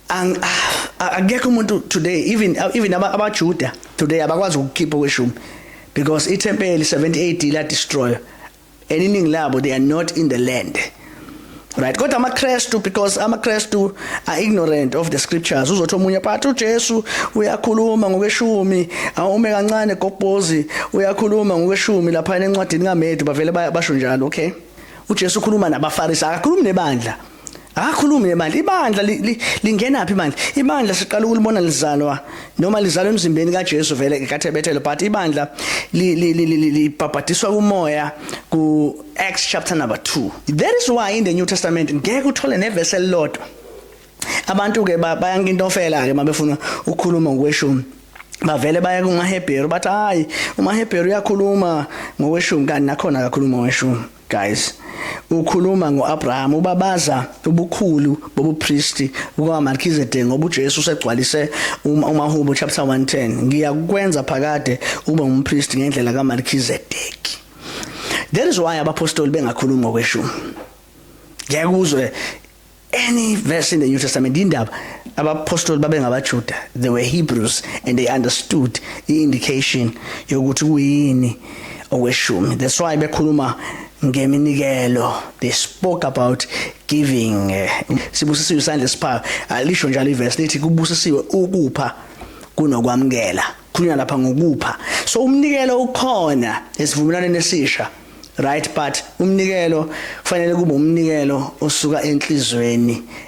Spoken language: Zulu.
ang ah, akekho umuntu today even even abajuda today abakwazi ukukhipha kweshumi because ithempeli 70 AD la destroy and iningi labo they are not in the land right kodwa amakrestu because amakrestu are ignorant of the scriptures uzothi omunye but uJesu uyakhuluma ngokweshumi awume kancane gobhozi uyakhuluma ngokweshumi lapha encwadini kaMedu bavele basho njalo okay uJesu ukhuluma nabaFarisi akakhulumi nebandla Akakhulumi nebandla. Ibandla lingena phi manje? Ibandla siqala ukulibona lizalwa noma lizalwa emzimbeni kaJesu vele kaThebethelo but ibandla libhabhadiswa kumoya ku Acts chapter number 2. That is why in the New Testament ngeke uthole neverse elilodwa. Abantu ke bayangintofela ke mabefuna ukukhuluma ngokweshumi. bavele baya kumahebheru bathi hayi umahebheru uyakhuluma ngokweshumi kanti nakhona akakhuluma ngokweshumi Guys, ukhuluma ngoAbraham ubabaza ubukhulu bobupristi bukaMelchizedek ngoba uJesu usegcwalise uma uMahubo chapter 110 ngiyakwenza phakade ube umpristi ngendlela kaMelchizedek. That is why abapostoli bengakhulumi ngokweshumi. Ngeke uzwe any verse in the New Testament indaba abapostoli babengabaJuda they were Hebrews and they understood i-indication yokuthi kuyini okweshumi that's why bekhuluma ngeminikelo they spoke about giving eh, sibusisiwe isandla esiphayo alisho njalo iverse lithi kubusisiwe ukupha kunokwamukela khulunywa lapha ngokupha so umnikelo ukhona esivumelwaneni esisha right but umnikelo kufanele kube umnikelo osuka enhlizweni